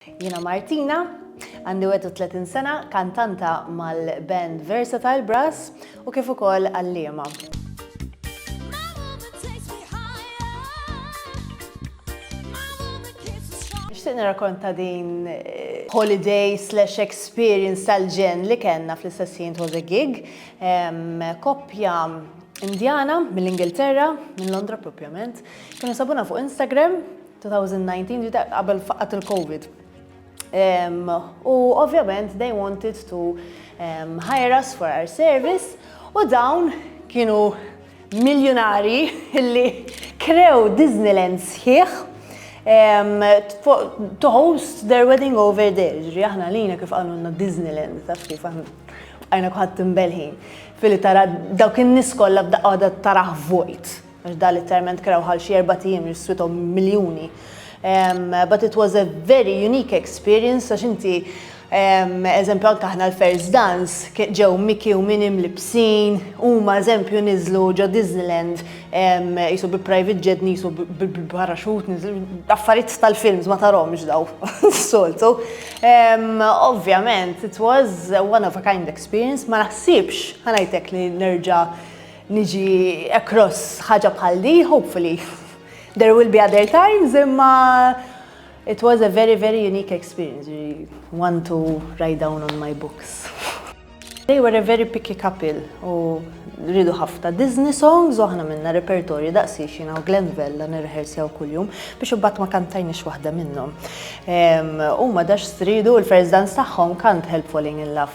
Jiena Martina, għandi 31 sena, kantanta mal-band Versatile Brass u kif ukoll għalliema. Nixtieq nirrakonta din holiday slash experience tal-ġenn li kellna fl-istess ħin it was a gig. Koppja Indjana mill-Ingilterra, minn Londra propjament, kienu sabuna fuq Instagram, 2019 ġiet qabel faqgħat il-Covid. U ovvjament they wanted to hire us for our service u dawn kienu miljunari illi krew Disneyland sħiħ to host their wedding over there. Ġri aħna lina kif qalulna Disneyland, taf kif aħna għajna kuħat timbelħin. Fili tara dawk in-nies kollha b'daqqa waħda tarah vojt. għax dan l-interment kraw ħal xi erbat ijiem li swithom miljuni but it was a very unique experience għax inti eżempju anke aħna l-first dance ġew Mickey u Minnie mlibbsin, huma eżempju niżlu ġo Disneyland qisu bi private jet nisu bil-paraxut niżlu affarijiet tal-films ma tarhomx daw s-soltu. Ovvjament it was one of a kind experience ma naħsibx ħa ngħidlek li nerġa' Niġi across ħaġa bħal di, hopefully. There will be other times, imma it was a very, very unique experience. One to write down on my books. They were a very picky couple u rridu ħafna Disney songs u aħna minna repertorju daqsi xina u Glenvella nirrehersjaw kull-jum biex ubbat ma kantajni xwaħda minnom. U ma dax stridu l-first dance taħħom kant help falling in love.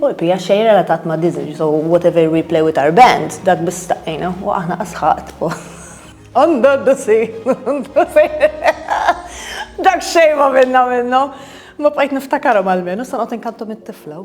U l-pija xejn relatat ma' Disney, so whatever we play with our band, dak bistaqina, u aħna asħat. Għanda d-dusi, dak xejn ma' minna minnu, ma' bqajt niftakaru mal-menu, sanqot inkantu mit-tifla.